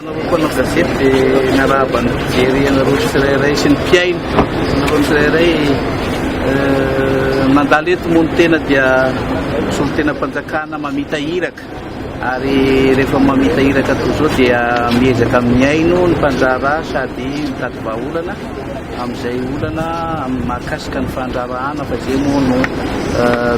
Ianareo mpanao gazety dia miarahaba ny mpijery anareo tsirairay sy ny mpiaino anareo tsirairay mandalo eto moa ny tena dia solontenam-panjakana mamita iraka ary rehefa mamita iraka toy izao dia miezaka mihaino ny mpandraharaha sady mitady vahaolana amin'izay olana amin'ny mahakasika ny fandraharahana fa izay moa no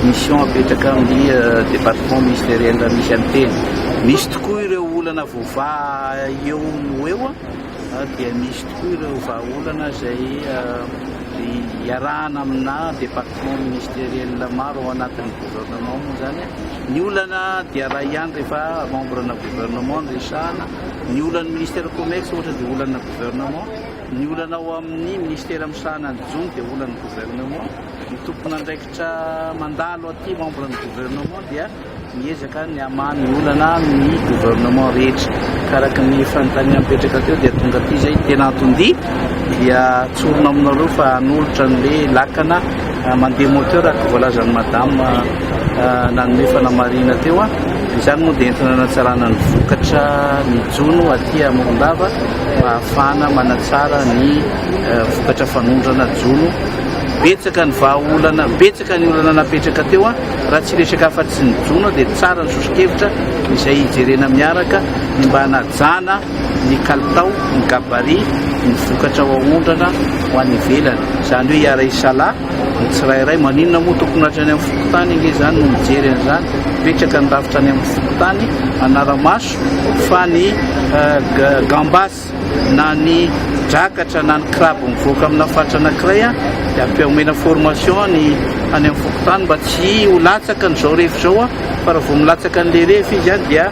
mission apetraka amin'ny département ministériel misy an'i Teny. Misy tokoa ireo olana voavaha eo no eo dia misy tokoa ireo vahaolana izay iarahana amina département ministériel maro ao anatin'ny gouvernement moa izany ny olana dia raha ihany rehefa membre-na gouvernement no resahana, ny olan'ny ministère commerce ohatra dia olana gouvernement. Ny olana ao amin'ny Minisitera misahana ny jono dia olan'ny Gouvernement. Ny tompon'andraikitra mandalo aty, membre ny Gouvernement, dia miezaka ny hamaha ny olana amin'ny Gouvernement rehetra. Ka araka ny fanontaniana mipetraka teo dia tonga aty izay, tena anton-dia dia tsorina aminareo fa hanolotra an'ilay lakana. Mandeha moteur araka ny voalazan'i Madame nanome fanamarihina teo. Izany moa dia entina hanatsarana ny vokatra ny jono aty à Morondava mba hahafahana manatsara ny vokatra fanondrana jono. Betsaka ny vahaolana, betsaka ny olana napetraka teo. Raha tsy resaka afa-tsy ny jono dia tsara ny sosokevitra izay hijerena miaraka ny mba hanajana ny kalitao, ny gabarit, ny vokatra ao aondrana ho any ivelany. Izany hoe hiara-hisalahy ny tsirairay. Maninona moa tokony hatrany amin'ny fokontany ange izany no mijery an'izany? Mipetraka ny rafitra any amin'ny fokontany hanara-maso fa ny gambas na ny drakatra na ny crabe mivoaka amina faritra anankiray dia ampihaomena formation ny any amin'ny fokontany mba tsy ho latsaka an'izao rehefa izao fa raha vao milatsaka an'ilay rehefa izy dia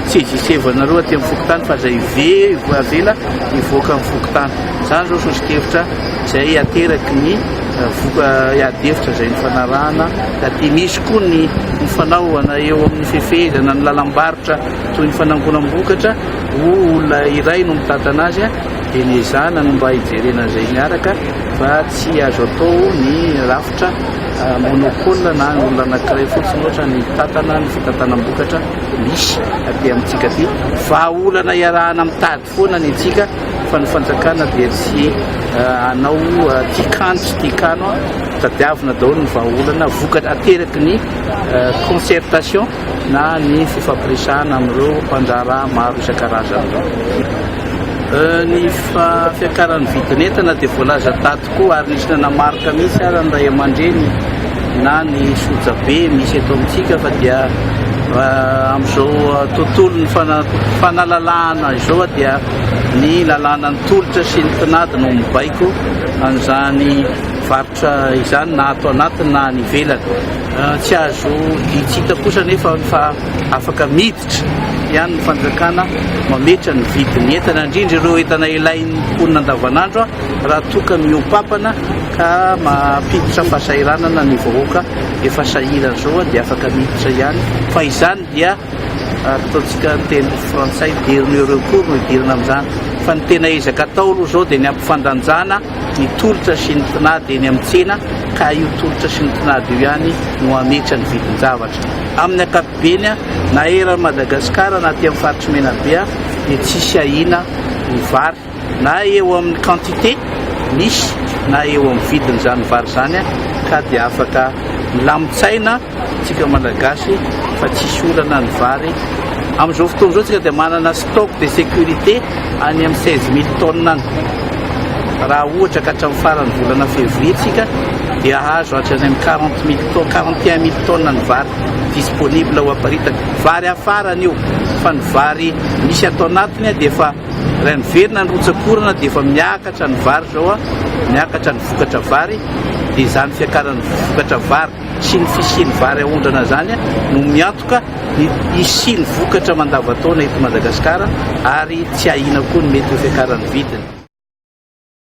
Sezisevo anareo aty amin'ny fokontany fa izay very avela hivoaka amin'ny fokontany. Izany izao sosokevitra izay ateraky ny voka iadefitra izay nifanarahana taty. Misy koa ny nifanaovana eo amin'ny fefehezana ny lalam-barotra toy ny fanangonam-bokatra ho olona iray no mitantana azy dia ny ezahana no mba hijerena izay miaraka fa tsy azo atao ny rafitra. Ohatra, monopole na olona anankiray fotsiny ohatra mitantana ny fitantanam-bokatra misy aty amintsika aty. Vahaolana iarahana mitady foana ny antsika fa ny fanjakana dia tsy hanao tia kano sy tia kano. Tadiavina daholo ny vahaolana vokatra ateraky ny concertation na ny fifampiresahana amin'ireo mpandraharaha maro isan-karazany ireo. Ny fiakaran'ny vidin'entana dia voalaza tato Koa ary nisy nanamarika mihitsy ary ny ray aman-dreny na ny sojabe misy eto amintsika fa dia amin'izao tontolon'ny fanalalahana izao dia ny lalànan'ny tolotra sy ny tinady no mibaiko an'izany varotra izany na ato anatiny na any ivelany. Tsy azo itsita kosa anefa fa afaka miditra Fototra ihany ny fanjakana mametra ny vidin'ny entana, indrindra ireo entana ilain'ny mponina andavanandro raha toa ka mihoa-pampana ka mampiditra fahasahiranana ny vahoaka efa sahirana izao dia afaka miditra ihany fa izany dia ataontsika ny teny frantsay dernier recours no hidirana amin'izany fa ny tena ezaka atao aloha izao dia ny hampifandanjana ny tolotra sy ny tinady eny amin'ny tsena ka io tolotra sy ny tinady io ihany no hametra ny vidin-javatra. Amin'ny ankapobeny, na eran'i Madagasikara na aty amin'ny faritry Menabe dia tsisy ahiana ny vary na eo amin'ny quantité misy na eo amin'ny vidiny izany vary izany ka dia afaka milamin-tsaina Tsika malagasy fa tsisy olana ny vary amin'izao fotoana izao tsika dia manana stock de sécurité any amin'ny seize mille tonnes any raha ohatra ka hatramin'ny faran'ny volana février tsika dia hahazo hatrany amin'ny quarante mille tonnes quarante et un mille tonnes ny vary disponible ho aparitaka vary hafarana io fa ny vary misy ato anatiny dia efa raha miverina ny rotsakorana dia efa miakatra ny vary izao a miakatra ny vokatra vary dia izany fiakaran'ny vokatra vary sy ny fisian'ny vary aondrana izany no miantoka ny hisian'ny vokatra mandavantaona eto Madagasikara ary tsy ahiana koa ny mety ho fiakaran'ny vidiny.